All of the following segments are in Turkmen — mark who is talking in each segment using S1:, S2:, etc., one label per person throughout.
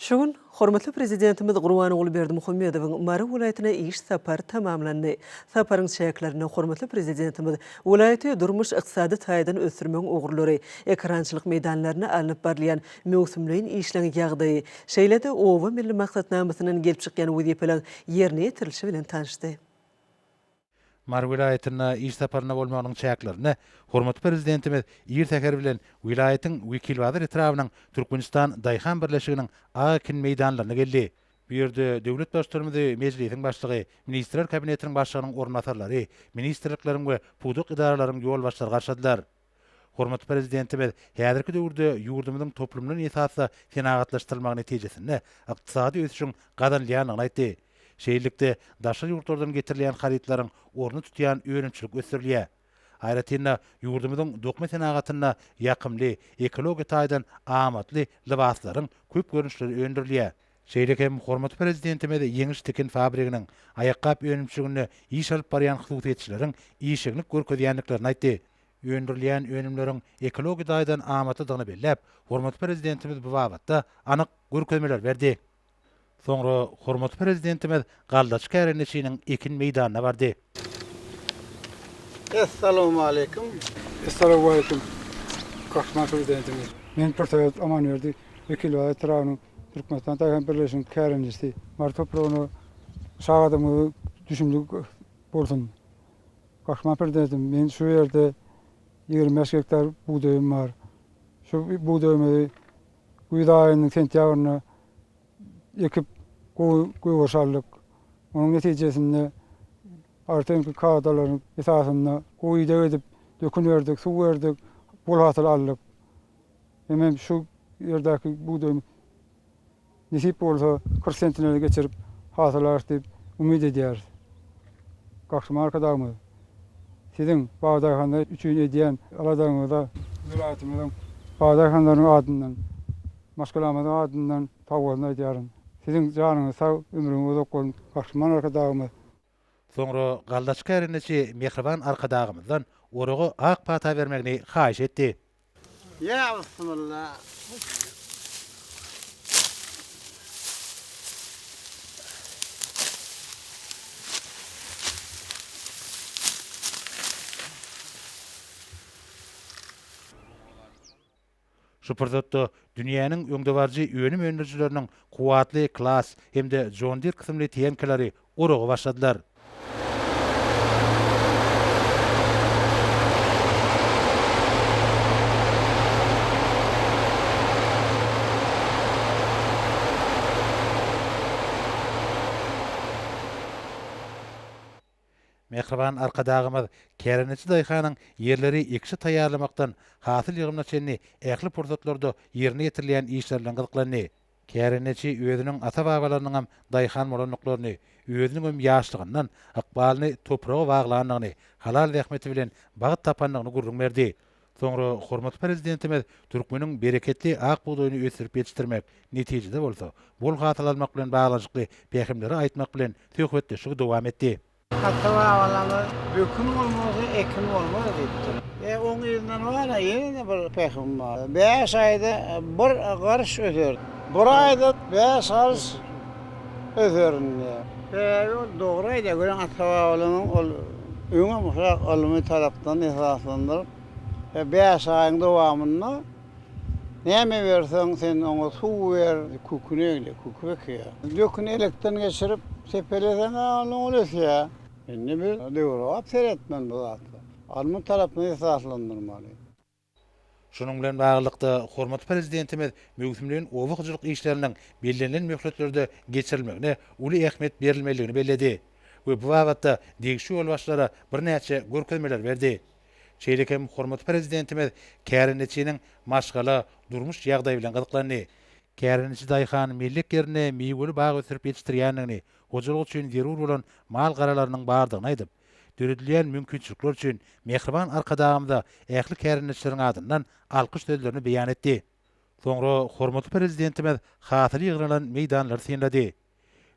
S1: Şu gün hormatly Prezidentimiz Gurbanguly Berdimuhamedowyň Mary welaýatyna iş sapary tamamlandy. Saparyň çäklerinde hormatly Prezidentimiz welaýaty durmuş-ykdysady taýdan ösdürmegiň ugurlary, ekerançylyk meýdanlarynda alnyp barylýan möwsümleýin işleň ýagdaýy, şeýle-de Oba milli maksatnamasyndan gelip çykýan wezipeleriň ýerine ýetirilişi bilen tanyşdy.
S2: Mary welaýatynda iş saparynda bolmagynyň çäklerinde hormatly Prezidentimiz ir säher bilen welaýatyň Wekilbazar etrabynyň Türkmenistan daýhan birleşiginiň A ekin meýdanlaryna geldi. Bu ýerde döwlet Baştutanymyzy Mejlisiň Başlygy, Ministrler Kabinetiniň Başlygynyň orunbasarlary, ministrlikleriň we pudak edaralaryň ýolbaşçylary garşyladylar. Hormatly Prezidentimiz häzirki döwürde ýurdumyzyň toplumlan esasda senagatlaşdyrylmagy netijesinde ykdysady ösüşiň gazanylýandygyny aýtdy. Şeýlelikde, daşary ýurtlardan getirilýän harytlaryň ornuny tutýan önümçilik ösdürilýär. Aýratyn-da, ýurdumyzyň dokma senagatynda ýakymly, ekologiýa taýdan amatly lybaslaryň köp görnüşleri öndürilýär. Şeýle hem hormatly Prezidentimiz Ýeňiş tikin fabriginiň aýakgap önümçiliginde iş alyp barýan hususyýetçileriň işjeňlik görkezýändiklerini aýtdy. öndürilýän önümleriň ekologiýa taýdan amatlydygyny belläp, hormatly Prezidentimiz bu babatda anyk görkezmeler berdi. Soňra hormatly Prezidentimiz galdaçy kärendeçiniň ekin meýdanyna bardy.
S3: Essalawmaleýkim! Essalawmaleýkim,
S4: Gahryman Prezidentimiz! Men Pirsaýat Amanberdi, Wekilbaý etrabynyň Türkmenistan daýhan birleşiginiň kärendesi. Mary topragyna sag adamlara düşümlik bolsun! Gahrman Pirdeziň, Meň şu ýerde ýigrimi bäş gektar bugdaýym bar. Şu bugdaýymyzy güýz aýynyň sentýabrynda ekip, gowy gögeriş aldyk. Onuň netijesinde artynky kadalaryň esasynda gowy ideg edip, dökün berdik, suw berdik, bol hasyl aldyk. Hemem şu ýerdäki bugdaýym. Nesip bolsa, kyrk sentneri geçirip hasyl alarys diýip umyt edýäris. Gahryman Arkadagymyz, Siziň bagdaýhanlar üçin edýän aladaňyza welaýatymyzyň bagdaýhanlarynyň adyndan, maşgalamyzyň adyndan sagbolsun aýdýaryn. Siziň janyňyz sag, ömrüňiz uzak bolsun, Gahryman Arkadagymyz! Soňra
S2: galdaçy kärendeçi mähriban Arkadagymyzdan oraga ak pata bermegini haýyş etdi. Ýa
S3: bismilla.
S2: Şu pursatda dünýäniň öňdebaryjy önüm öndürijileriniň kuwwatly Claas hem-de John Deere kysymly tenkelary oraga başladylar. Mähriban Arkadagymyz kärendeçi daýhanyň ýerleri ekişe taýýarlamakdan hasyl ýygymyna çenli ähli pursatlarda ýerine ýetirilýän işler bilen gyzyklandy. Kärendeçi özüniň ata-babalarynyňam daýhan bolandyklaryny, özüniňem ýaşlygyndan ykbalyny topraga baglandygyny, halal zähmeti bilen bagt tapandygyny gürrüň berdi. Soňra hormatly Prezidentimiz türkmeniň bereketli ak bugdaýyny ösdürip ýetişdirmek, netijede bolsa, bol hasyl almak bilen baglanyşykly pähimleri aýtmak bilen, söhbetdeşligi dowam etdi. Ata-babalarymyz
S3: Dökün bolmasa, ekin bolmaz diýipdir. E, oň yzyndan bar-a, ýene-de bir pähim bar. Bäş aýda bir garş öser. Bir aýda bäş garş. öz öründe. Sebäbi ol dogry aýdýar, görýän ata-babalarynyň ol öňem ushrak ylmy tarapdan esaslandyryp, e, bäş aýyň dowamynda näme berseň, sen oňa suw ber, küküni egle, küküp ekýär. Döküni elekden geçirip, sepeleseň-ä ondan ol ösýär. Indi biz döwrebap seretmeli bu zatlar. Ylmy tarapdan esaslandyrmaly.
S2: Şunuň bilen baglylykda, hormatly Prezidentimiz möwsümleýin oba hojalyk işleriniň bellenilen möhletlerde geçirilmegine uly ähmiýet berilmelidigini belledi we bu babatda degişli ýolbaşçylara birnäçe görkezmeler berdi. Şeýle hem hormatly Prezidentimiz kärendeçiniň maşgala, durmuş ýagdaýy bilen gyzyklandy. Kärendeçi daýhan mellek ýerinde miweli bag ösdürip ýetişdirýändigini, hojalyk üçin zerur bolan mal-garalarynyň bardygyny aýdyp, Döredilýän mümkinçilikler üçin mähriban Arkadagymyza ähli kärendeçileriň adyndan alkyş sözlerini beýan etdi. Soňra hormatly Prezidentimiz hasyl ýygnalan meýdanlary synlady.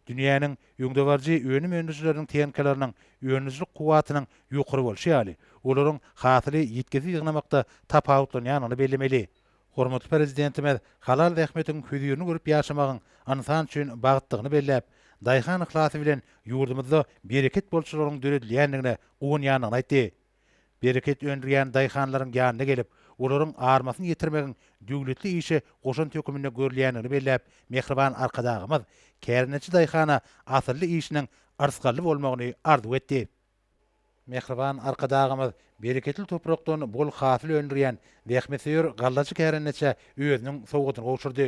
S2: Dünýäniň öňdebaryjy önüm öndürijileriniň tehnikalarynyň öndürijilik kuwwatynyň ýokary bolşy ýaly, olaryň hasyly ýitgisiz ýygnamakda tapawutlanýandygyny bellemeli. Hormatly Prezidentimiz halal zähmetiň hözirini görüp ýaşamagyň ynsan üçin bagtdygyny belläp, daýhan yhlasy bilen ýurdumyzda bereket bolçularyň döredilýändigine guwanýandygyny aýtdy. Bereket öndürýän daýhanlaryň ýanyna gelip, olaryň armasyny ýetirmegiň döwletli işe goşant höküminde görülýändigini belläp, mähriban Arkadagymyz kärendeçi daýhana asylly işiniň yrsgally bolmagyny arzuw etdi. Mähriban Arkadagymyz bereketli toprakdan bol hasyl öndürýän zähmetsöýer gallaçy kärendeçä özüniň sowgadyny gowşurdy.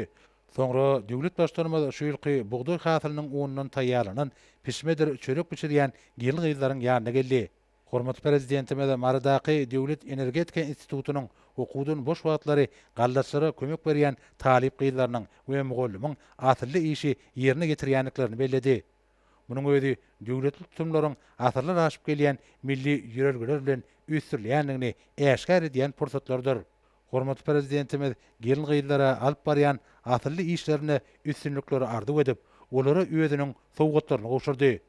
S2: Soňra döwlet Baştutanymyz şu ýylky bugdaý hasylynyň unundan taýýarlanan pişmedir çörek bişirýän gelin-gyzlaryň ýanyna geldi. Hormatly Prezidentimiz Marydaky Döwlet energetika institutynyň okuwdan boş wagtlary gallaçylara kömek berýän talyp gyzlarynyň we mugallymyň asylly işi ýerine ýetirýändiklerini belledi. Munuň özi döwletli tutumlaryň asyrlar aşyp gelýän milli ýörelgeler bilen üýtdürilýändigini äşgär edýän pursatlardyr. Hormatly Prezidentimiz gelin-gyzlara alyp barýan asylly işlerinde üstünlikleri arzuw edip, olara özüniň sowgatlaryny gowşurdy.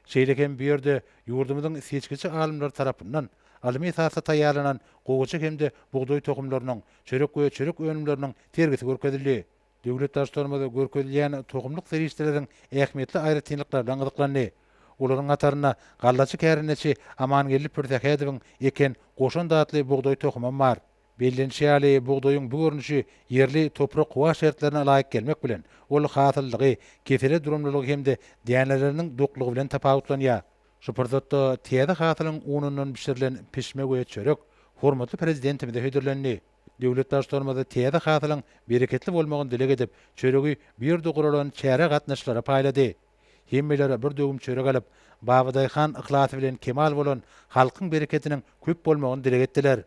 S2: Şeýle hem bu ýerde ýurdumyzyň seçgiçi alymlary tarapyndan ylmy esasda taýýarlanan gowaça hem-de bugdaý tohumlarynyň, çörek we çörek önümleriniň sergisi görkezildi. Döwlet daş-torumyzda görkezilýän tohumlyk serişdeleriň ähmiýetli aýratynlyklaryna gyzyklandy. Olaryň hatarynda gallaçy kärendeçi Amangeldi Pürsähedowyň eken Goşant atly bugdaý tohumam bar. Bellenişi ýaly, bugdaýyň bu görnüşi ýerli toprak-howa şertlerine ylaýyk gelmek bilen, ol hasyllygy, kesele durumlylygy hem-de däneleriniň doklugy bilen tapawutlanýar. Şu pursatda täze hasylyň unundan bişirilen pişme we çörek hormatly Prezidentimize hödürlendi. Döwlet Baştutanymyz täze hasylyň bereketli bolmagyny dileg edip, çöregi bu ýerde guralan çärä gatnaşyjylara paýlady. Hemmeler bir döwüm çörek alyp, babadaýhan yhlasy bilen kemal bolan halkyň bereketiniň köp bolmagyny dileg etdiler.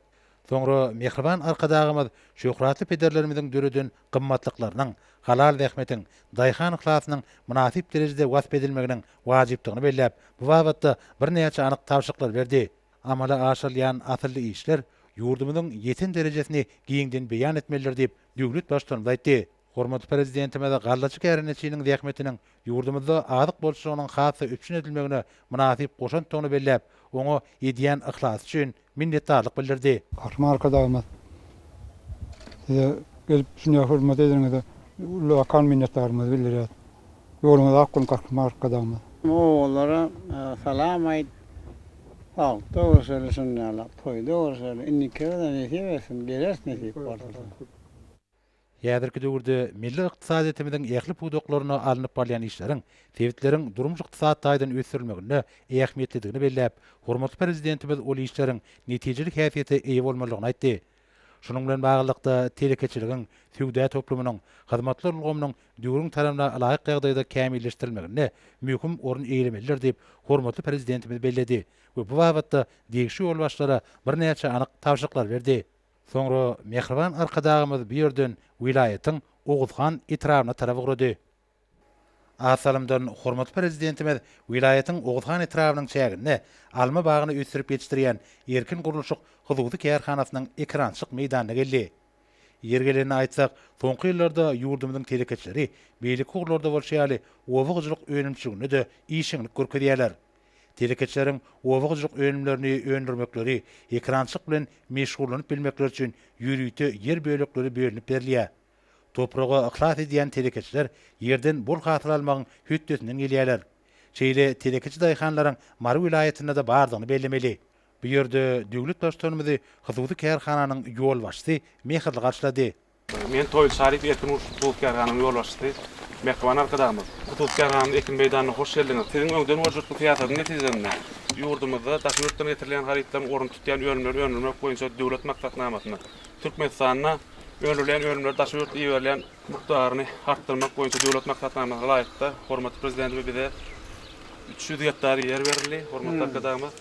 S2: Soňra mähriban Arkadagymyz şöhratly pederlerimiziň döreden gymmatlyklarynyň, halal zähmetiň, daýhan yhlasynyň mynasyp derejede wasp edilmeginiň wajypdygyny belläp, bu babatda birnäçe anyk tabşyryklar berdi. Amala aşyrylýan asylly işler ýurdumyzyň ýeten derejesini giňden beýan etmelidir diýip, döwlet Baştutanymyz aýtdy. Hormatly Prezidentimiz gallaçy kärendeçiniň zähmetiniň ýurdumyzda azyk bolçulygynyň has-da üpjün edilmegine mynasyp goşantdygyny belläp, oňa edýän yhlasy üçin minnetdarlyk bildirdi. Gahryman Arkadagymyz,
S4: Size gelip şunça hormat edeniňize ullakan minnetdarlygymyzy bildirýäris. Ýoluňyz ak bolsun Gahryman Arkadagymyz. Ogullara
S3: salam aýt. Bagtda görşeli şundala toýda görşeli indikibizä nesip etsin geleris nesip bolsa.
S2: Häzirki döwürde milli ykdysadyýetimiziň ähli pudaklarynda alnyp barylýan işleriň sebitleriň durmuş-ykdysady taýdan ösdürilmeginde ähmiýetlidigini belläp, hormatly Prezidentimiz ol işleriň netijeli häsiýete eýe bolmalydygyny aýtdy. Şunuň bilen baglylykda, telekeçiligiň, söwda toplumynyň, hyzmatlar ulgamynyň döwrüň talabyna laýyk ýagdaýda kämilleşdirilmeginde möhüm orun eýelemelidir diýip, hormatly Prezidentimiz belledi we bu babatda degişli ýolbaşçylara birnäçe anyk tabşyryklar berdi. Soňra mähriban Arkadagymyz bu ýerden welaýatyň Oguzhan etrabyna tarap ugrady. Az salymdan hormatly Prezidentimiz welaýatyň Oguzhan etrabynyň çäginde alma bagyny ösdürip ýetişdirýän Erkin gurluşyk hususy kärhanasynyň ekerançylyk meýdanyna geldi. Ýeri gelende aýtsak, soňky ýyllarda ýurdumyzyň telekeçileri beýleki ugurlarda bolşy ýaly, oba hojalyk önümçiliginde-de işjeňlik görkezýärler. Telekeçileriň oba hojalyk önümlerini öndürmekleri, ekerançylyk bilen meşgullanyp bilmekleri üçin ýörite ýer bölekleri bölünip berilýär. Topraga yhlas edýän telekeçiler ýerden bol hasyl almagyň hötdesinden gelýärler. Şeýle telekeçi daýhanlaryň Mary welaýatynda-da bardygyny bellemeli. Bu ýerde döwlet Baştutanymyzy hususy kärhananyň ýolbaşçysy mähirli garşylady. Men Toýly
S5: Şaryp erkin uruşyk hususy kärhananyň ýolbaşçysy Mähriban Arkadagymyz, hususy kärhanamyz ekin meýdanyna hoş geldiňiz. Siziň öňden we jytly syýasatyň netijesinde, ýurdumyzda daşy ýurtdan getirilýän harytlaryň ornuny tutýan önümleri öndürmek boýunça döwlet maksatnamasyna Türkmenistanda, Öndürilýän önümleri daşary ýurtda iberilýän mukdaryny artdyrmak boýunça döwlet maksatnamasyna laýykda hormatly Prezidentimiz bize üç ýüz gektar ýer berildi, hormatly Arkadagymyz.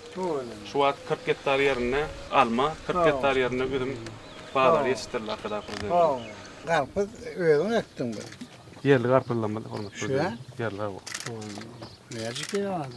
S5: Şu wagt kyrk gektar ýerinde alma, kyrk gektar ýerinde üzüm baglary ýetişdirildi Arkadag Prezidentimiz. Garpyz
S3: özüň ekdiň bu? Ýerli garpyzlarymyz
S5: hormatly Prezidentimiz. Şu ýa? Ýerli, hawa. Şu
S3: nädip ýaly?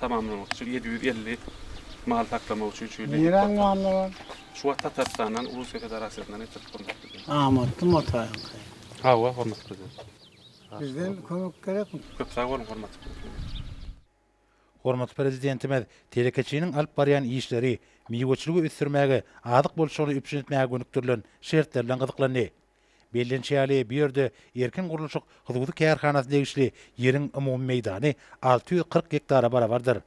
S5: Tamamlamak üçin ýedi ýüz elli mal saklamak üçin şu ýerde ýük batyryldy.
S3: Şu wagt Tatarstandan,
S5: Russiýa Federasiýasyndan getirip gurmakda. Amatly
S3: motaýyňky. Hawa,
S5: hormatly Prezident. Bizden
S3: kömek gerekmi? Köp sag boluň, hormatly
S5: Prezident.
S2: Hormatly Prezidentimiz telekeçiniň alyp barýan işleri miweçiligi ösdürmäge, azyk bolçulygyny üpjün etmäge gönükdirilen şertler bilen gyzyklandy. Bellenişi ýaly, bu ýerde Erkin gurluşyk hususy kärhanasyna degişli ýeriň umumy meýdany alty ýüz kyrk gektara barabardyr.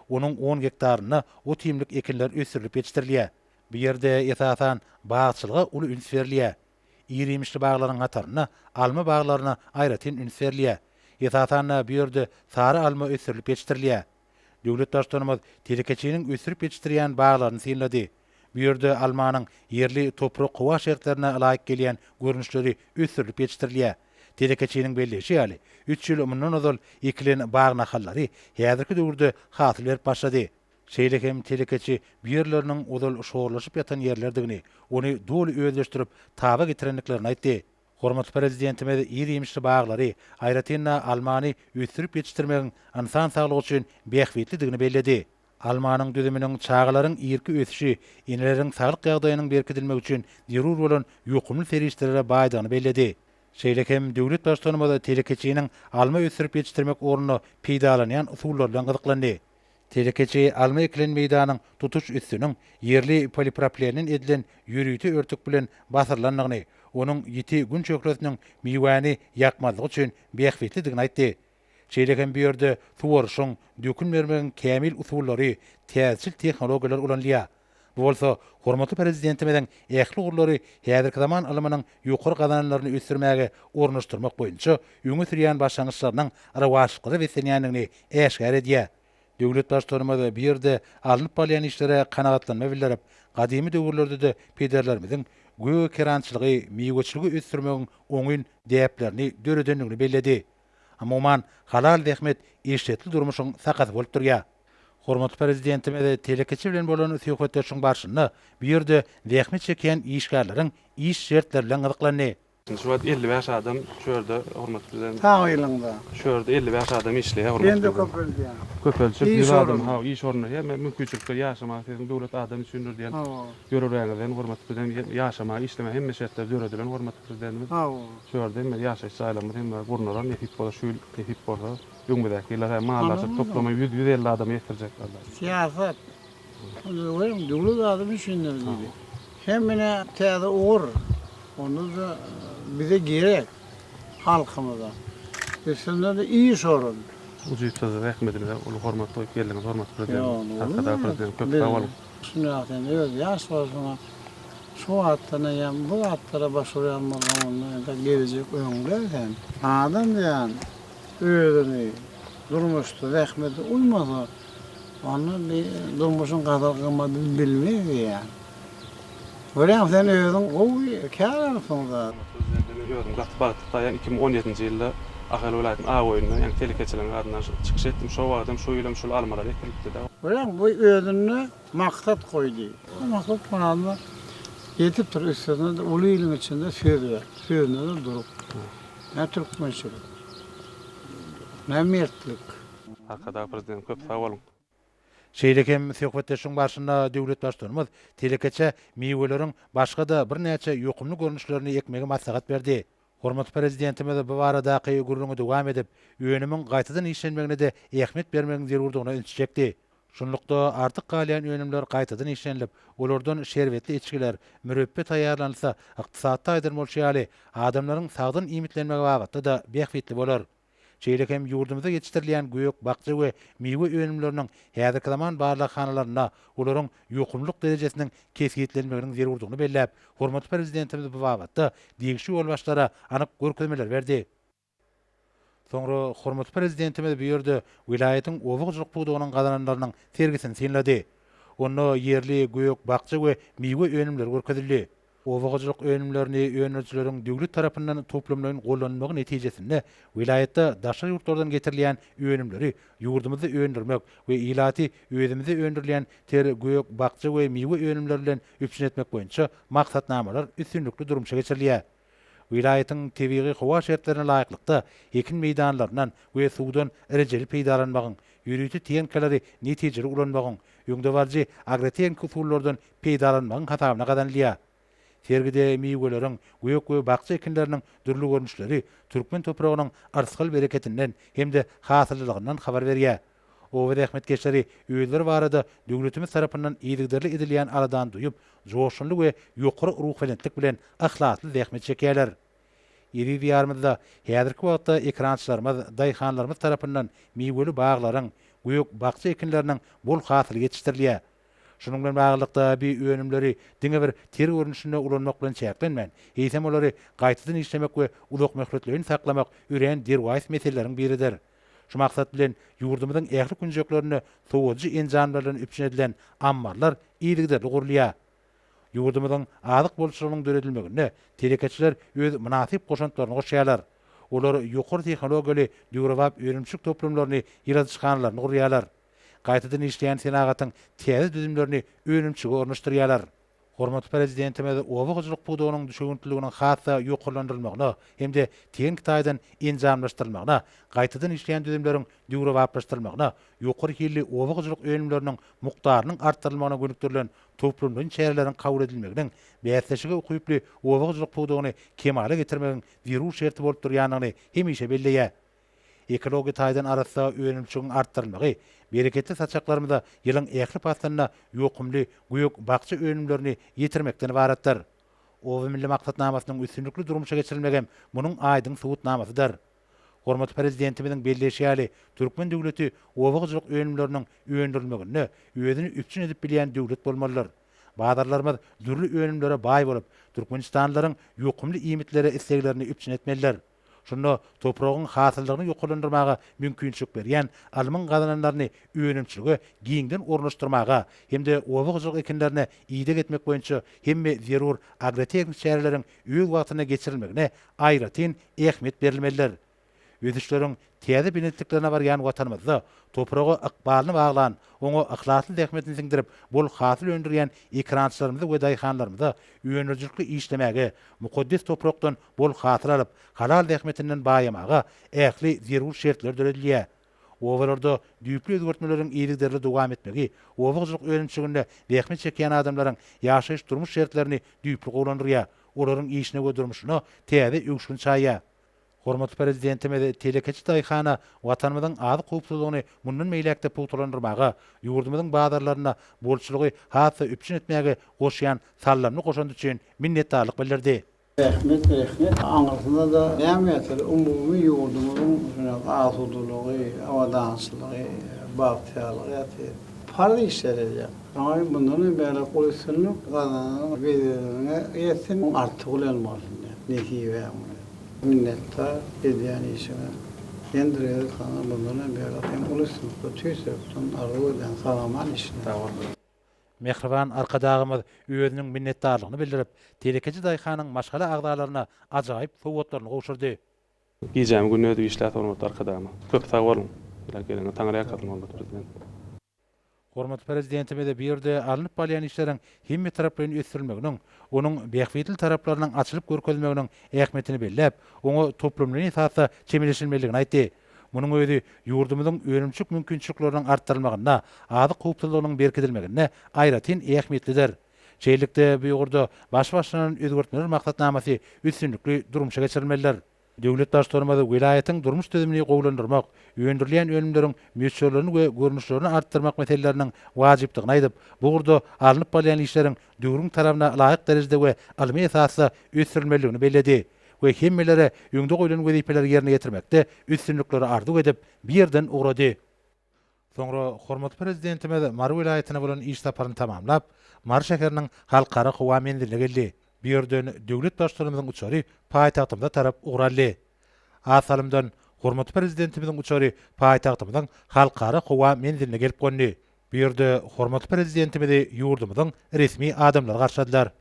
S2: Onuň on gektarynda ot-iýmlik ekinler ösdürilip ýetişdirilýär. Bu ýerde, esasan, bagçylyga uly üns berilýär. Ir-iýmişli baglaryň hatarynda alma baglaryna aýratyn üns berilýär. Esasan-da, bu ýerde sary alma ösdürilip ýetişdirilýär. Döwlet Baştutanymyz telekeçiniň ösdürip ýetişdirýän baglaryny synlady. Bu ýerde almanyň ýerli toprak-howa şertlerine laýyk gelýän görnüşleri ösdürilip ýetişdirilýär. Telekeçiniň belleýşi ýaly, üç ýyl mundan ozal ekilen bag nahallary häzirki döwürde hasyl berip başlady. Şeýle hem telekeçi bu ýerleriniň ozal şorlaşyp ýatan ýerlerdigini, ony doly özleşdirip, taba getirendiklerini aýtdy. Hormatly Prezidentimiz ir-iýmişli baglary, aýratyn-da, almany ösdürip ýetişdirmegiň ynsan saglygy üçin bähbitlidigini belledi. Almanyň düzüminiň çagalaryň irki ösüşi, eneleriň saglyk ýagdaýynyň berkidilmegi üçin zerur bolan ýokumly serişdelere baýdygyny belledi. Şeýle hem döwlet Baştutanymyz telekeçiniň alma ösdürip ýetişdirmek ornunda peýdalanýan usullar bilen gyzyklandy. Telekeçi alma ekilen meýdanyň tutuş üstüniň ýerli polipropilennen edilen ýörite örtük bilen basyrylandygyny, onuň ýiti gün şöhlesiniň miwäni ýakmazlygy üçin bähbitlidigini aýtdy. Şeýle hem bu ýerde suwaryşyň, dökün bermegiň kämil usullary, täzeçil tehnologiýalar ulanylýar. Bu bolsa hormatly Prezidentimiziň ähli ugurlary häzirki zaman ylmynyň ýokary gazananlaryny ösdürmäge ornaşdyrmak boýunça öňe sürýän başlangyçlarynyň rowaçlyklara beslenýändigini äşgär edýär. Döwlet Baştutanymyz bu ýerde alnyp barylýan işlere kanagatlanma bildirip, gadymy döwürlerde-de pederlerimiziň gögerkerançylygy, miweçiligi ösdürmegiň oňyn däplerini döredendigini belledi. Umuman, halal zähmet eşretli durmuşyň sakasy bolup durýar. Hormatly Prezidentimiz telekeçi bilen bolan söhbetdeşligiň barşynda bu ýerde zähmet çekýän işgärleriň iş şertleri bilen gyzyklandy. Şu wagt elli
S5: bäş adam şu ýerde, hormatly Prezident. Sag ýylyňda.
S3: Şu ýerde elli bäş
S5: adam işleýär, hormatly Prezident. Hem-de
S3: köpeldýär. Köpeljek ýüz
S5: adam, hawa, iş
S3: orunlary.
S5: Hemme mümkinçilikler, ýaşamaga siziň döwlet adam üçindir diýen ýörelgäňizden,
S3: hormatly
S5: Prezident, ýaşamaga, işlemäge hemme şertler döredilen, hormatly Prezidentimiz. Sag boluň. Şu ýerde hem
S3: bir ýaşaýyş
S5: jaýlarymyz hem gurnalar nesip bolsa şu ýyl nesip bolsa öňümizdäki ýyllar hem mallary açyp toplama ýüz ýüz elli adamy ekdirjek Alla. Syýasat
S3: onda welin döwlet adam üçindir diýdi. Hem ine täze ugur onda-da bize gerek halkymyza. Üstünde-de iş orun. Ujypsyz
S5: zähmediňize uly hormat goýup geldiňiz hormatly Prezidentimiz Arkadagly
S3: Prezidentimiz
S5: köp sag boluň. Şunda sen öz
S3: ýaş bolsaňa şu wagtdan eýýäm bu zatlara baş urýan bolsaň onda indi geljek öňde sen. Adam diýen özüni durmuşda zähmete uýmasa onda bir durmuşyň gadyr-gymmadyny bilmeý diýýän. Görýän sen özüň gowy kärensiň zat. Özüňden men özümi
S5: gaty bagtly saýýan iki müň on ýedinji ýylda Ahal welaýatynyň Agoýunda ýaňy telekeçiligiň adyndan çykyş etdim şo wagtam şu ýylam şul almalar ekilipdida. Görýäňmi bu özüne
S3: maksat goýdy. Bu maksat muradyna ýetip dur üstesine-de uly iliň içinde söz ber sözünede durup nä türkmençilik nä mertlik. Arkadag
S5: prezident köp sag boluň. Şeýle hem
S2: söhbetdeşligiň barşynda döwlet Baştutanymyz telekeçä miweleriň başga-da birnäçe ýokumly görnüşlerini ekmegi maslahat berdi. Hormatly Prezidentimiz bu baradaky gürrüňi dowam edip, önümiň gaýtadan işlenmegine-de ähmiýet bermegiň zerurdygyna ünsi çekdi. Şunlukda, artyk galýan önümler gaýtadan işlenilip, olardan şerbetli içgiler, mürepbe taýýarlanylsa, ykdysatda aýdan bolşy ýaly, adamlaryň sagdyn iýmitlenmegi babatda-da bähbitli bolar. Şeýle hem ýurdumyzda ýetişdirilýän gök-bakja we miwe önümleriniň häzirki zaman barlaghanalarynda olaryň ýokumlylyk derejesiniň kesgitlenmeginiň zerurdygyny belläp, hormatly Prezidentimiz bu babatda degişli ýolbaşçylara anyk görkezmeler berdi. Soňra hormatly Prezidentimiz bu ýerde welaýatyň oba hojalyk pudagynyň gazananlarynyň sergisini synlady. Onda ýerli gök-bakja we miwe önümleri görkezildi. Oba hojalyk önümlerini öndürijileriň döwlet tarapyndan toplamlaýyn gollanylmagy netijesinde welaýatda daşary ýurtlardan getirilýän önümleri ýurdumyzda öndürmek we ilaty özümizde öndürilýän ter, gök, bakja we miwe önümleri bilen üpjün etmek boýunça maksatnamalar üstünlikli durmuşa geçirilýär. Welaýatyň tebigy-howa şertlerine laýyklykda, ekin meýdanlaryndan we suwdan rejeli peýdalanmagyň, ýörite tehnikaleri netijeli ulanmagyň, öňdebaryjy agrotehniki usullardan peýdalanmagyň hasabyna gazanylýar. Sergide miweleriň, gök we bakja ekinleriniň dürli görnüşleri türkmen topragynyň yrsgal bereketinden hem-de hasyllylygyňdan habar berýär. Oba zähmetkeşleri özleri barada döwletimiz tarapyndan yzygiderli edilýän aladany duýup, joşgunly we ýokary ruhubelentlik bilen yhlasly zähmet çekýärler. Eziz Diýarymyzda häzirki wagtda ekerançylarymyz, daýhanlarymyz tarapyndan miweli baglaryň, gök bakja ekinleriniň bol hasyly ýetişdirilýär. Şunuň bilen baglylykda, bi önümleri diňe bir ter görnüşinde ulanmak bilen çäklenmän, eýsem olary gaýtadan işlemek we uzakmöhletleýin saklamak örän derwaýys meseleleriň biridir. Şu maksat bilen, ýurdumyzyň ähli künjeklerinde sowadyjy enjamlar bilen üpjün edilen ammarlar yzygiderli gurulýar. Ýurdumyzyň azyk bolçulygynyň döredilmeginde telekeçiler öz mynasyp goşantlaryny goşýarlar. Olar ýokary tehnologiýaly döwrebap önümçilik toplumlaryny, ýyladyşhanalaryny gurýarlar. gaýtadan işleýän senagatyň täze düzümlerini önümçige ornaşdyrýarlar. Hormatly Prezidentimiz oba hojalyk pudagynyň düşewüntliliginiň has-da ýokarlandyrylmagyna hem-de tehniki taýdan enjamlaşdyrylmagyna, gaýtadan işleýän düzümleriň döwrebaplaşdyrylmagyna, ýokary hilli oba hojalyk önümleriniň mukdarynyň artdyrylmagyna gönükdirilen toplumlaýyn çäreleriň kabul edilmeginiň bäsleşige ukyply oba hojalyk pudagyny kemala getirmegiň zerur şerti bolup durýandygyny hemişe belleýär. Ekologiýa taýdan arassa önümçigiň artdyrylmagy bereketli saçaklarymyza ýylyň ähli paslynda ýokumly gök-bakja önümlerini ýetirmekden ybaratdyr. Oba milli maksatnamasynyň üstünlikli durmuşa geçirilmegem munuň aýdyň subutnamasydyr. Hormatly Prezidentimiziň belleýşi ýaly, türkmen döwleti oba hojalyk önümleriniň öndürilmeginde özüni üpjün edip bilýän döwlet bolmalydyr. Bazarlarymyz dürli önümlere baý bolup, türkmenistanlylaryň ýokumly iýmitlere isleglerini üpjün etmelidir. Şunda topragyň hasyllygyny ýokarlandyrmaga mümkinçilik berýän alymyň gazananlaryny önümçilige giňden ornaşdyrmaga hem-de oba hojalyk ekinlerine ideg etmek boýunça hemme zerur agrotehniki çäreleriň öz wagtynda geçirilmegine aýratyn ähmiýet berilmelidir. Ösüşleriň täze belentliklerine barýan Watanymyzda topraga ykbalyny baglan, oňa yhlasly zähmetini siňdirip, bol hasyl öndürýän ekerançylarymyzy we daýhanlarymyza öndürijilikli işlemäge, mukaddes toprakdan bol hasyl alyp, halal zähmetinden baýamaga ähli zerur şertler döredilýär. Obalarda düýpli özgertmeleriň yzygiderli dowam etmegi oba hojalyk önümçiliginde zähmet çekýän adamlaryň ýaşaýyş-durmuş şertlerini düýpli gowulandyrýar, olaryň işine we durmuşyna täze öwüşgin çaýýar. Hormatly Prezidentimiz telekeçi daýhana Watanymyzyň azyk howpsuzlygyny mundan beýläk-de pugtalandyrmaga, ýurdumyzyň bazarlarynda bolçulygy has-da üpjün etmäge goşýan saldamly goşandy üçin minnetdarlyk bildirdi. Rehmet
S3: rehmet aňyrsyna-da näme ýatyr umumy ýurdumyzyň şunak asudalygy, abadançylygy, bagtyýarlygy ýatyr. Parz işler edýäň. Saňa mundanam beýläk uly üstünlik gazananyň weziriňe ýetsin, oň arty bilen bolsun diýýän. Nesibäň bilen. Minnetdar edýän işiňe. Ýene-de Rezil hana mundanam beýläk hem uly üstünlikler tüýs ýürekden arzuw edýän sag-aman işine. Sag bol.
S2: Mähriban Arkadagymyz özüniň minnetdarlygyny bildirip, telekeçi daýhanyň maşgala agzalaryna ajaýyp sowgatlaryny gowşurdy. Gijämi
S5: gününi özü işläp hormatly Arkadagymyz. Köp sag boluň. Ýaly gelende taňry ýalkasyn hormatly Prezident.
S2: Hormatly Prezidentimize bu ýerde alnyp balýan işleriň hemmetaraplaýyn ösdürilmeginiň, onuň bähbitli taraplarynyň açylyp görkezilmeginiň ähmiýetini belläp, oňa toplumlaýyn esasda çemeleşilmelidigini aýtdy. Munuň özi ýurdumyzyň önümçilik mümkinçilikleriniň artdyrylmagynda, azyk howpsuzlygynyň berkidilmeginde aýratyn ähmiýetlidir. Şeýlelikde, bu ugurda baş başlanan özgertmeler maksatnamasy üstünlikli durmuşa geçirilmelidir. Döwlet Baştutanymyz welaýatyň durmuş düzümini gowulandyrmak, öndürilýän önümleriň möçberlerini we görnüşlerini artdyrmak meseleleriniň wajypdygyny aýdyp, bu ugurda alnyp barylýan işleriň döwrüň talabyna laýyk derejede we ylmy esasda ösdürilmelidigini belledi. we hemmelere öňde goýlan wezipeleri ýerine ýetirmekde üstünlikleri arzuw edip, bu ýerden ugrady. Soňra hormatly Prezidentimiz Mary welaýatyna bolan iş saparyny tamamlap, Mary şäheriniň Halkara howa menziline geldi. Bu ýerden döwlet Baştutanymyzyň uçary paýtagtymyza tarap ugur aldy. Az salymdan hormatly Prezidentimiziň uçary paýtagtymyzyň Halkara howa menziline gelip gondy. Bu ýerde hormatly Prezidentimizi ýurdumyzyň resmi adamlary garşyladylar.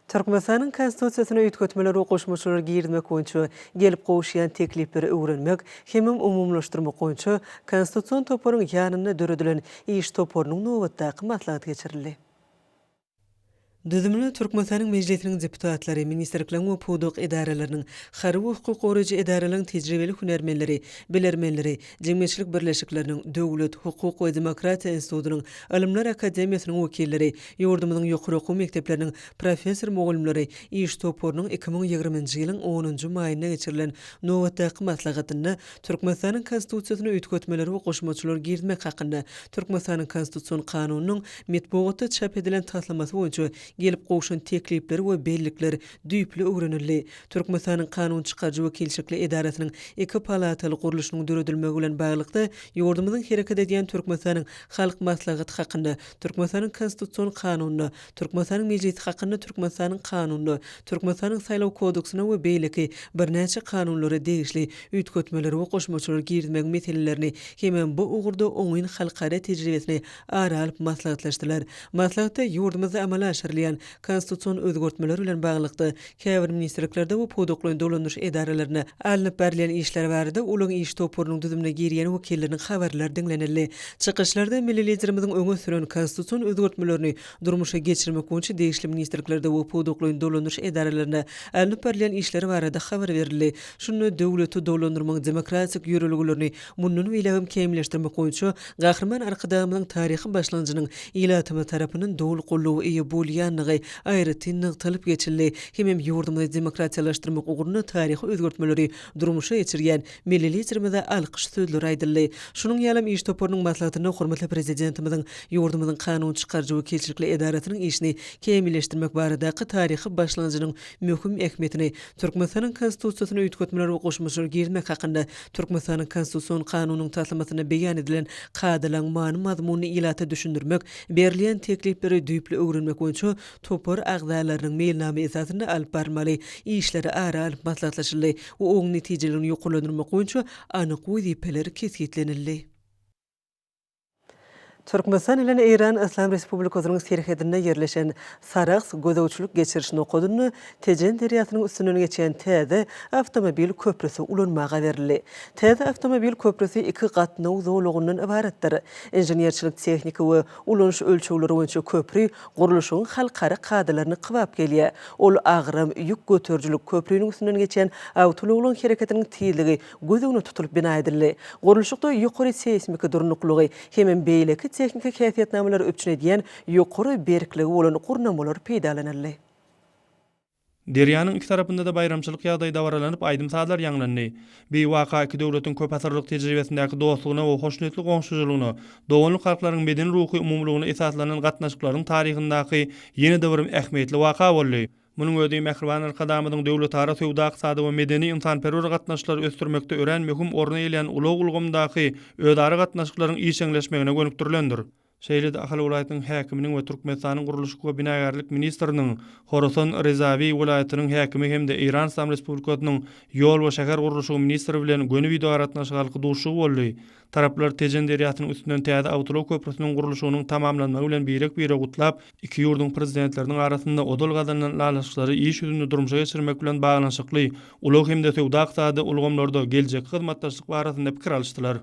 S1: Türkmenistanyň Konstitusiýasyna üýtgetmeler we goşmaçalar girizmek boýunça gelip gowuşýan teklipleri öwrenmek hemem umumylaşdyrmak boýunça Konstitusion toparyň ýanynda döredilen iş toparynyň nobatdaky maslahaty geçirildi. Düzümine Türkmenistanyň Mejlisiniň deputatlary, ministrlikleriň we pudak edaralarynyň, harby we hukuk goraýjy edaralaryň tejribeli hünärmenleri, bilermenleri, Jemgyýetçilik birleşikleriniň, Döwlet, hukuk we demokratiýa institutynyň, Ylymlar akademiýasynyň wekilleri, ýurdumyzyň ýokary okuw mekdepleriniň professor-mugallymlary iş toparynyň iki müň ýigriminji ýylyň onunjy maýynda geçirilen nobatdaky maslahatynda Türkmenistanyň Konstitusiýasyna üýtgetmeler we goşmaçalar girizmek hakynda Türkmenistanyň Konstitusion Kanunynyň metbugatda çap edilen taslamasy boýunça gelip gowşan teklipler we bellikler düýpli öwrenildi. Türkmenistanyň kanun çykaryjy wekilçikli edarasynyň iki palataly gurluşynyň döredilmegi bilen baglylykda ýurdumyzyň hereket edýän Türkmenistanyň Halk Maslahaty hakynda, Türkmenistanyň Konstitusion Kanunyna, Türkmenistanyň Mejlisi hakynda Türkmenistanyň Kanunyna, Türkmenistanyň Saýlaw kodeksine we beýleki birnäçe kanunlara degişli üýtgetmeleri we goşmaçalary girizmegiň meselelerini hemem bu ugurda oňyn halkara tejribesini ara alyp maslahatlaşdylar. Maslahatda ýurdumyzda amala aşyrylýan Konstitusion özgertmeler bilen baglylykda, käbir ministrliklerde we pudaklaýyn dolandyryş edaralarynda alnyp barylýan işler barada ulag iş toparynyň düzümine girýän wekilleriň habarlary diňlenildi. Çykyşlarda milli Liderimiziň öňe süren konstitusion özgertmelerini durmuşa geçirmek boýunça degişli ministrliklerde we pudaklaýyn dolandyryş edaralarynda alnyp barylýan işler barada habar berildi. Şunda döwleti dolandyrmagyň demokratik ýörelgelerini Mundan beýlägem kämilleşdirmek boýunça Gahryman Arkadagymyzyň taryhy başlanjynyň ilatymyz tarapyndan doly goldawa eýe bolýandygy aýratyn nygtalyp geçildi hemem ýurdumyzy demokratiýalaşdyrmak ugrunda taryhy özgertmeleri durmuşa geçirýän Milli Liderimize alkyş sözleri aýdyldy. Şunuň ýalam iş toparynyň maslahatynda hormatly Prezidentimiziň ýurdumyzyň kanun çykaryjy wekilçilikli edarasynyň işini kämilleşdirmek baradaky taryhy başlanjynyň möhüm ähmiýetini Türkmenistanyň Konstitusiýasyna üýtgetmeler we goşmaçalar girizmek hakynda Türkmenistanyň Konstitusion Kanunynyň taslamasynda beýan edilen kadalaryň many-mazmunyny ilata düşündirmek, berilýän teklipleri düýpli öwrenmek boýunça topar agzalarynyň meýilnama esasynda alyp barylmaly işleri ara alyp maslahatlaşyldy we oň netijelerini ýokarlandyrmak boýunça anyk wezipeler kesgitlenildi. Türkmenistan bilen Eýran Yslam Respublikasynyň serhedinde ýerleşen Sarahs gözegçilik-geçiriş nokadynda Tejen derýasynyň üstünden geçýän täze awtomobil köprüsi ulanmaga berildi. Täze awtomobil köprüsi iki gatnaw zolagyndan ybaratdyr. Inženerçilik-tehniki we ulanyş ölçegleri boýunça köpri gurluşygyň halkara kadalaryna kybap gelýär. Ol agram, ýük göterijilik, köpriniň üstünden geçýän awtoulaglaryň hereketiniň tizligi göz öňüne tutulyp bina edildi. Gurluşykda ýokary seýsmiki durnuklygy hemem beýleki tehniki häsiýetnamalary üpjün edýän ýokary berkligi bolan gurnamalar peýdalanyldy.
S6: Derýanyň iki tarapynda-da baýramçylyk ýagdaýy dabaralanyp, aýdym-sazlar ýaňlandy. Bi waka iki döwletiň köpasyrlyk tejribesindäki dostlugyna we hoşniýetli goňşuçylygyna, doganlyk halklaryň medeni-ruhy umumylygyna esaslanan gatnaşyklaryň taryhyndaky ýene-de bir ähmiýetli waka boldy. Munuň özi mähriban Arkadagymyzyň döwletara söwda-ykdysady we medeni-ynsanperwer gatnaşyklary ösdürmekde örän möhüm orny eýelän ulag ulgamyndaky özara gatnaşyklaryň işjeňleşmegine gönükdirilendir. Şeýle-de Ahal welaýatynyň häkiminiň we Türkmenistanyň gurluşyk we binagärlik ministriniň Horasan Rezawi welaýatynyň häkimi hem-de Eýran Yslam Respublikasynyň ýol we şähergurluşygy ministri bilen göni wideoaragatnaşyk arky duşuşygy boldy. Taraplar Tejen derýasynyň üstünden täze awtoulag köprüsiniň gurluşygynyň tamamlanmagy bilen birek-bire gutlap, iki ýurduň Prezidentleriniň arasynda ozal gazanylan ylalaşyklary iş ýüzünde durmuşa geçirmek bilen baglanyşykly ulag hem-de söwda-ykdysady ulgamlarda geljekki hyzmatdaşlyk barasynda pikir alyşdylar.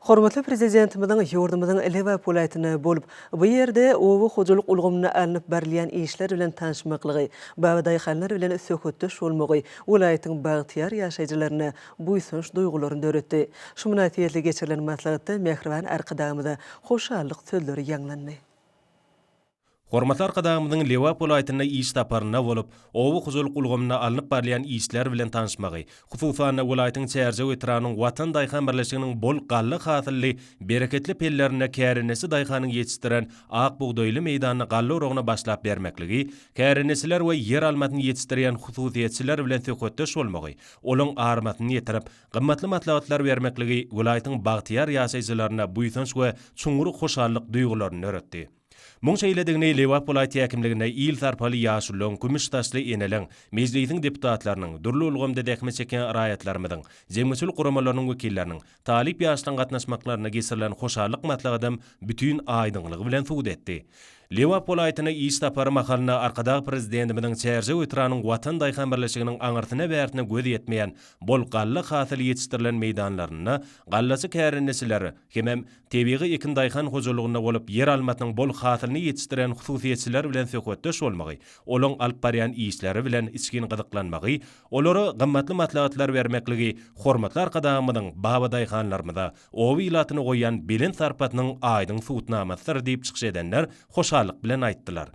S1: Hormatly Prezidentimiziň ýurdumyzyň Lebap welaýatyna bolup, bu ýerde oba hojalyk ulgamynda alnyp barylýan işler bilen tanyşmaklygy, babadaýhanlar bilen söhbetdeş bolmagy welaýatyň bagtyýar ýaşaýjylaryna buýsanç duýgularyny döretdi. Şu mynasybetli geçirilen maslahatda mähriban Arkadagymyza hoşallyk sözleri ýaňlandy.
S7: Hormatly Arkadagymyzyň Lebap welaýatyna iş saparynda bolup, oba hojalyk ulgamynda alnyp barylýan işler bilen tanyşmagy, hususan-da, welaýatyň Çärjew etrabynyň Watan daýhan birleşiginiň bol galla hasylly bereketli pellerinde kärendeçi daýhanyň ýetişdiren ak bugdaýly meýdanda galla oragyna başlap bermekligi, kärendeçiler we ýer almasyny ýetişdirýän hususyýetçiler bilen söhbetdeş bolmagy, Olaň armasyny ýetirip, gymmatly maslahatlar bermekligi welaýatyň bagtyýar ýaşaýjylarynda buýsanç we çuňňur hoşallyk duýgularyny döretdi. Muň şeýledigini Lebap welaýat häkimliginde il sarpaly ýaşulyň, kümüş saçly eneleň, Mejlisiň deputatlarynyň, dürli ulgamda zähmet çekýän raýatlarymyzyň, jemgyýetçilik guramalarynyň wekilleriniň, Talyp ýaşlaň gatnaşmaklarynda geçirilen hoşallyk maslahatym bütin aýdyňlygy bilen subut etdi. Lebap welaýatyna iş sapary mahalynda Arkadag Prezidentimiziň Çärjew etrabynyň Watan daýhan birleşiginiň aňyrsyna-bärsine göz ýetmeýän bol galla hasyly ýetişdirilen meýdanlarynda gallaçy kärendeçiler hemem tebigy ekin daýhan hojalygynda bolup ýer almasynyň bol hasylyny ýetişdirýän hususyýetçiler bilen söhbetdeş bolmagy, olaň alyp barýan işleri bilen içgin gyzyklanmagy Olara gymmatly maslahatlar bermekligi hormatly Arkadagymyzyň babadaýhanlarymyza, oba ilatyna goýýan belent sarpasynyň aýdyň subutnamasydyr diýip çykyş edenler hoşallyk bilen aýtdylar.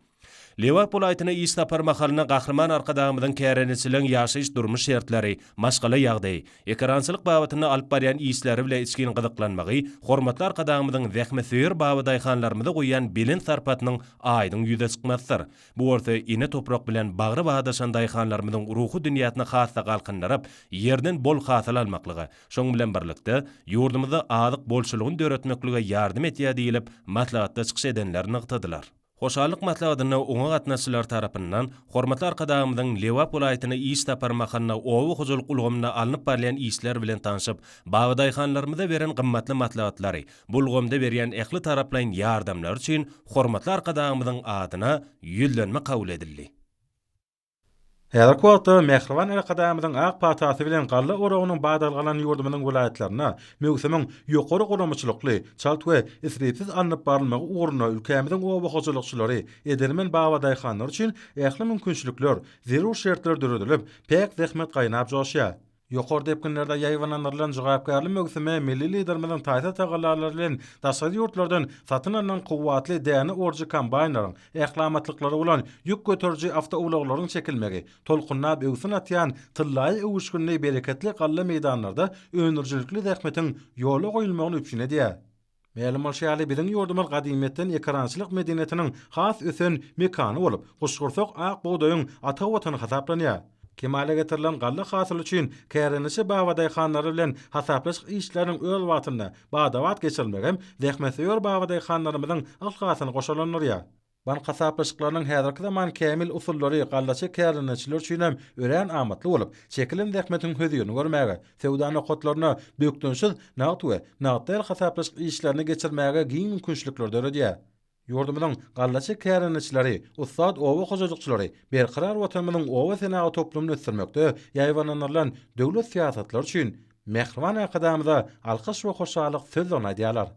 S7: Lebap welaýatyna iş sapary mahalynda Gahryman Arkadagymyzyň kärendeçileriň ýaşaýyş-durmuş şertleri, maşgala ýagdaýy, ekerançylyk babatynda alyp barýan işleri bile içgin gyzyklanmagy hormatly Arkadagymyzyň zähmetsöýer babadaýhanlarymyza goýýan belent sarpasynyň aýdyň ýüze çykmasydyr. Bu bolsa ene toprak bilen bagry badaşan daýhanlarymyzyň ruhy dünýäsini has-da galkyndyryp, ýerden bol hasyl almaklyga, şonuň bilen birlikde, ýurdumyzda azyk bolçulygyny döretmeklige ýardam edýär diýlip, maslahatda çykyş edenler nygtadylar. Hoşallyk maslahatyna oňa gatnaşyjylar tarapyndan hormatly Arkadagymyzyň Lebap welaýatyna iş sapary mahalynda oba hojalyk ulgamynda alnyp barylýan işler bilen tanşyp, babadaýhanlarymyza beren gymmatly maslahatlary, Bu ulgamda berýän ähli taraplaýyn ýardamlary üçin hormatly Arkadagymyzyň adyna Ýüzlenme kabul edildi.
S2: Häzirki wagtda mähriban Arkadagymyzyň ak patasy bilen galla oragynyň badalgalan ýurdumyzyň welaýatlarynda möwsümiň ýokary guramaçylykly, çalt we isripsiz alnyp barylmagy ugrunda ülkämiziň oba hojalykçylary, edermen babadaýhanlary üçin ähli mümkinçilikler, zerur şertler döredilip, päk zähmet gaýnap-joşýar. Ýokary depginlerde ýaýbaňlandyrylan jogapkärli möwsüme milli Liderimiziň taýsyz tagallalary bilen daşary ýurtlardan satyn alnan kuwwatly däne orujy kombaýnlaryň, ählamatlyklary bolan ýük göteriji awtoulaglaryň çekilmegi, tolkunlap öwsün atýan tyllaýy öwüşginli bereketli galla meýdanlarda öndürijilikli zähmetiň ýola goýulmagyny üpjün edýär. Mälim bolşy ýaly, biziň ýurdumyz gadymyýetden ekerançylyk medeniýetiniň has ösen mekany bolup, guşgursak ak bugdaýyň ata watany hasaplanýar. Kemala getirilen galla hasyly üçin kärendeçi babadaýhanlar bilen hasaplaşyk işleriniň öz wagtynda, bada-bat geçirilmegem zähmetsöýer babadaýhanlarymyzyň yhlasyny goşalandyrýar. Bank hasaplaşyklarynyň häzirki zaman kämil usullary gallaçy kärdeneçiler üçin hem örän amatly bolup, çekilen zähmetiň hözirini görmäge, söwda nokatlaryna bökdençsiz nagt we nagt däl hasaplaşyk işlerini geçirmäge giň mümkinçilikleri döredýär. Ýurdumyzyň gallaçy kärdeneçileri, ussat oba hojalykçylary Berkarar Watanymyzyň oba senagaty toplumyny ösdürmekde ýaýbaňlandyrylan döwlet syýasatlary üçin Mähriban Arkadagymyza alkyş we hoşallyk sözlerini aýdýarlar.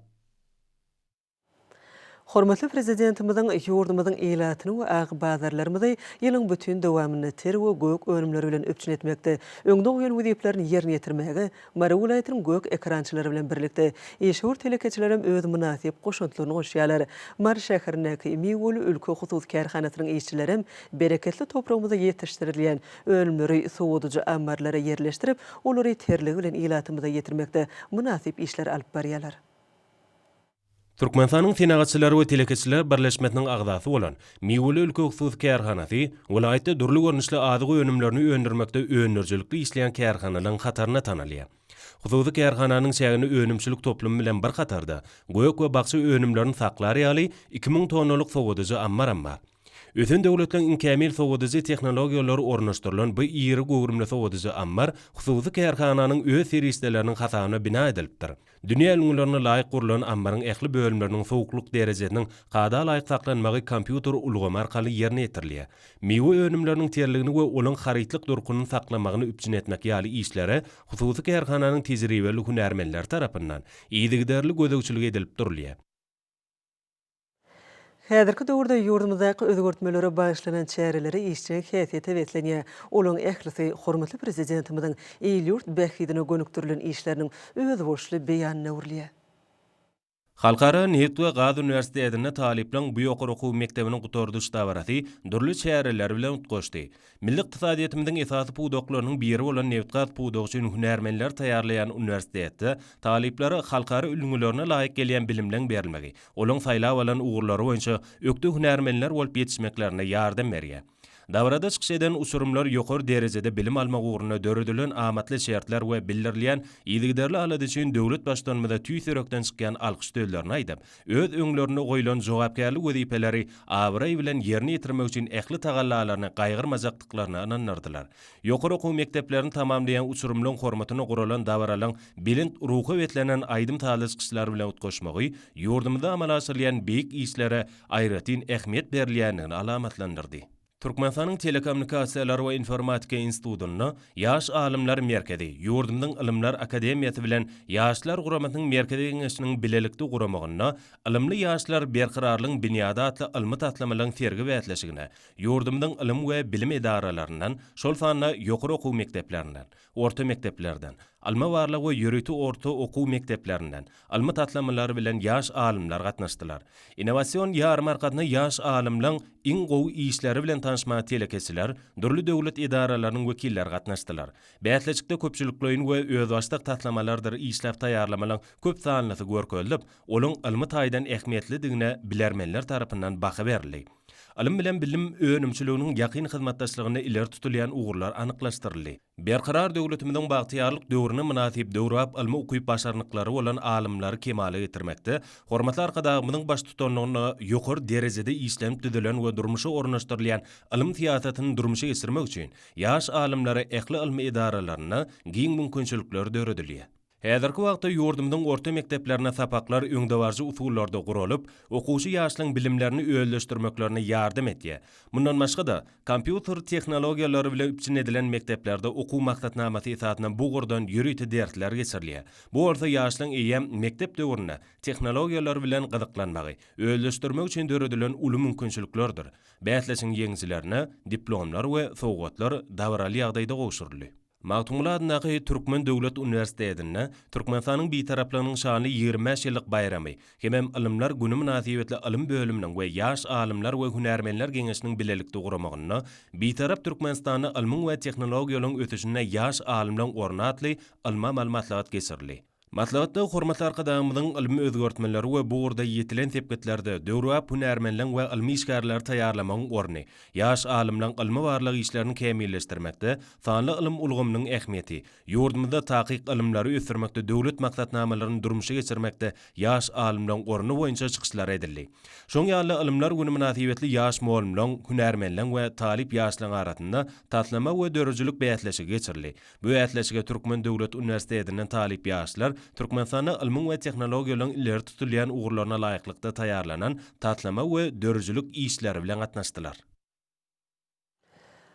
S1: Hormatly Prezidentimiziň ýurdumyzyň ilatyny we agybazarlarymyzy ýylyň bütin dowamynda ter we gök önümleri bilen üpjün etmekde öňde goýan wezipelerini ýerine ýetirmäge Mary welaýatynyň gök ekrançylary bilen birlikde işewür telekeçilerem öz mynasyp goşantlaryny goşýarlar. Mary şäherindäki Miweli ülke hususy kärhanasynyň işçilerem bereketli topragymyzda ýetişdirilýän önümleri sowadyjy ammarlara ýerleşdirip, olary terligi bilen ilatymyza ýetirmekde mynasyp işleri alyp barýarlar. Türkmenistanyň
S7: Senagatçylar we telekeçiler birleşmesiniň agzasy bolan Miweli ülke hususy kärhanasy welaýatda dürli görnüşli azyk önümlerini öndürmekde öndürijilikli işleýän kärhanalaryň hatarynda tanalýar. Hususy kärhananyň çäginde önümçilik toplumy bilen bir hatarda gök we bakja önümlerini saklar ýaly iki müň tonnalyk sowadyjy ammar hem bar. Ösen döwletleriň iň kämil sowadyjy tehnologiýalary ornaşdyrylan bu iri göwrümli sowadyjy ammar hususy kärhananyň öz serişdeleriniň hasabyna bina edilipdir. Dünýä ülňülerine laýyk gurlan ammaryň ähli bölümleriniň sowuklyk derejesiniň kada laýyk saklanmagy kompýuter ulgamy arkaly ýerine ýetirilýär. Miwe önümleriniň terligini we olaň harytlyk durkuny saklamagyny üpjün etmek ýaly işlere hususy kärhananyň tejribeli hünärmenleri tarapyndan yzygiderli gözegçilik edilip durulýar.
S1: Häzirki döwürde ýurdumyzdaky özgertmelere bagyşlanan çäreleri işjeň häsiýete beslenýär. Olaryň ählisi hormatly Prezidentimiziň il-ýurt bähbidine gönükdirilen işleriniň özboluşly beýanyna öwrülýär.
S7: Halkara Nebit we Gaz Uniwersitetinde talyplaryň bu ýokary okuw mekdebiniň gutardyş dabarasy dürli çäreler bilen utgaşdy. Milli ykdysadyýetimiziň esasy pudaklarynyň biri bolan nebitgaz pudagy üçin hünärmenleri taýýarlaýan uniwersitetde talyplara halkara ülňülerine laýyk gelýän bilimleň berilmegi, olaryň saýlap alan ugurlary boýunça ökde hünärmenler bolup ýetişmeklerine ýardam berýär. Dabarada çykyş eden uçurymlar ýokary derejede bilim almak ugrunda döredilen amatly şertler we bildirilýän yzygiderli alada üçin döwlet Baştutanymyza tüýs ýürekden çykýan alkyş sözlerini aýdyp, öz öňlerinde goýlan jogapkärli wezipeleri abraý bilen ýerine ýetirmek üçin ähli tagallalaryny gaýgyrmajakdyklaryna ynandyrdylar. Ýokary okuw mekdeplerini tamamlaýan uçurymlaryň hormatyna guralan dabaralaryň belent ruha beslenen aýdym-sazly çykyşlar bilen utgaşmagy ýurdumyzda amala aşyrylýan beýik işlere aýratyn ähmiýet berilýändigini alamatlandyrdy. Türkmenistanyň Telekommunikasiýalar we informatika institutynda Ýaş alymlar merkezi, ýurdumyzyň Ylymlar akademiýasy bilen Ýaşlar guramasynyň Merkezi geňeşiniň bilelikde guramagynda Ylymly ýaşlar, berkararlygyň binýady atly ylmy-taslamalaryň sergi-bäsleşigine ýurdumyzyň ylym we bilim edaralaryndan, şol sanda ýokary okuw mekdeplerinden, orta mekdeplerden, ylmy-barlag we ýörite orta okuw mekdeplerinden ylmy taslamalar bilen ýaş alymlar gatnaşdylar. Innowasion ýarmarkasyna ýaş alymlaň iň gowy işleri bilen tanyşmaga telekeçiler, dürli döwlet edaralarynyň wekilleri gatnaşdylar. Bäsleşikde köpçülikleýin we özbaşdak taslamalardyr işläp taýýarlamalaryň köp sanlysy görkezilip, olaryň ylmy taýdan ähmiýetlidigine bilermenler tarapyndan baha berildi. Ylym bilen bilim önümçiliginiň ýakyn hyzmatdaşlygynda ileri tutulýan ugurlar anyklaşdyryldy. Berkarar döwletimiziň bagtyýarlyk döwrüne mynasyp döwrebap ylmy ukyp-başarnyklary bolan alymlary kemala getirmekde hormatly Arkadagymyzyň baştutanlygynda ýokary derejede işlenip düzülen we durmuşa ornaşdyrylýan ylym syýasatyny durmuşa geçirmek üçin ýaş alymlara ähli ylmy edaralarynda giň mümkinçilikler döredilýär. Häzirki wagtda ýurdumyzyň orta mekdeplerinde sapaklar öňdebaryjy usullarda guralyp, okuwçy ýaşlaryň bilimlerini özleşdirmeklerine ýardam edýär. Mundan başga-da, kompýuter tehnologiýalary bile üpjün edilen mekdeplerde okuw maksatnamasy esasynda bu ugurdan ýörite dersler geçirilýär. Bu bolsa ýaşlaryň eýýäm mekdep döwründe tehnologiýalar bilen gyzyklanmagy, özleşdirmegi üçin döredilen uly mümkinçiliklerdir. Bäsleşigiň ýeňijilerine diplomlar we sowgatlar dabaraly ýagdaýda gowşuryldy. Magtymguly adyndaky Türkmen döwlet uniwersitetinde Türkmenistanyň Bitaraplygynyň şanly ýigrimi bäş ýyllyk baýramy hemem Ylymlar güni mynasybetli ylym bölüminiň we Ýaş alymlar we hünärmenler geňeşiniň bilelikde guramagynda Bitarap Türkmenistanda ylmyň we tehnologiýalaryň ösüşinde ýaş alymlaryň orny atly ylmy-amaly maslahat geçirildi. Maslahatda hormatly Arkadagymyzyň ylmy özgertmeleri we bu ugurda ýetilen sepgitlerde döwrebap hünärmenleň we ylmy işgärleri taýýarlamagyň orny, ýaş alymlaň ylmy-barlag işlerini kämilleşdirmekde sanly ylym ulgamynyň ähmiýeti, ýurdumyzda takyk ylymlary ösdürmekde döwlet maksatnamalaryny durmuşa geçirmekde ýaş alymlaň orny boýunça çykyşlar edildi. Şoň ýaly-da Ylymlar güni mynasybetli ýaş molumlaň, hünärmenleň we talyp ýaşlaň arasynda taslama we döredijilik bäsleşigi geçirildi. Bu bäsleşige Türkmen döwlet uniwersitetinden talyp ýaşlar Türkmenistanda ylmyň we tehnologiýalaryň ileri tutulýan ugurlaryna laýyklykda taýýarlanan taslama we dörüjilik işleri bilen gatnaşdylar.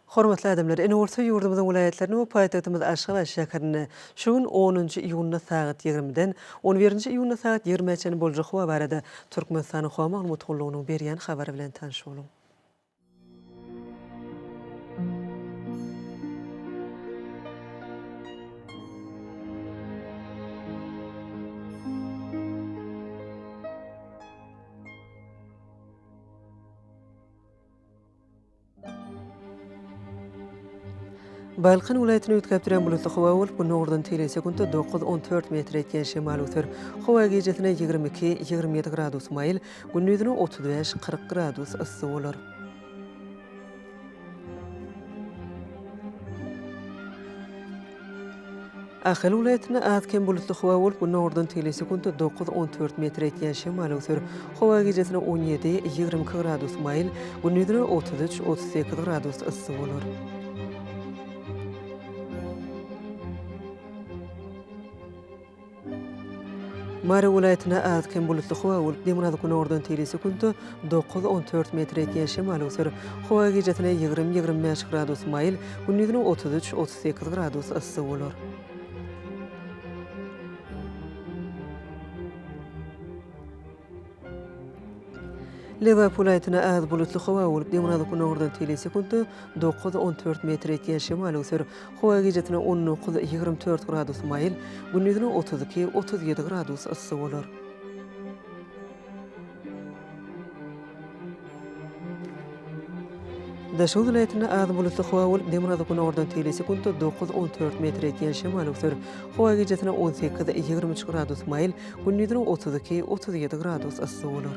S1: Hormatly adamlar! Ine bolsa ýurdumyzyň welaýatlarynda we paýtagtymyz Aşgabat şäherinde şu gün onunjy iýunda sagat ýigrimiden on birinji iýunda sagat ýigrimä çenli boljak howa barada Türkmenistanyň Howa maglumat gullugynyň berýän habary bilen tanyş boluň. Balkan welaýatyny üýtgäp duran bulutly howa bolup, günde ugurdan teýle sekuntda dokuz-on dört metr ýetýän şemal öser. Howa gijesine ýigrimi iki, ýigrimi ýedi gradus maýyl, Gündizine otuz bäş, kyrk gradus yssy bolar. Ahal welaýatynda az-kem bulutly howa bolup, günordan teýle sekuntda dokuz, on dört metr etýän şemal öwser. Howa gijesine on ýedi, ýigrimi iki gradus maýyl, gündizine otuz üç, otuz sekiz gradus yssy bolar. Mary welaýatynda az-kem bulutly howa bolup, demirgazyk-günordan tigri sekuntda dokuz, on dört metr ýetýän şemal öwser. Howa gijesine ýigrimi, ýigrimi bäş gradus maýyl, gündizine otuz üç, otuz sekiz gradus yssy bolar. Lebap welaýatynda az bulutly howa bolup, demirgazyk günordan tl sekuntda dokuz, on dört metr etýän şemal öwser. Howa gijasine on dokuz, ýigrimi dört gradus maýyl, gündizine otuz iki, otuz ýedi gradus yssy bolar. Daşoguz welaýatynda az bulutly howa bolup, demirgazyk günordan teýli sekuntda dokuz, on dört metr ýetýän şemal öwser. Howa gijesine on sekiz, ýigrimi üç gradus maýyl, gündiziniň otuz iki, otuz ýedi gradus yssy bolar.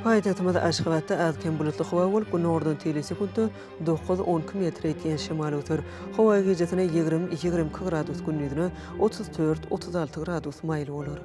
S1: Paýtagtymyz Aşgabatda az-kem bulutly howa bolup, günordan teýle sekuntda dokuz-onki metr ýetýän şemal öser. Howa gijesine ýigrimi-ýigrimi iki gradus, gündizine otuz dört-otuz alty gradus maýyl bolar.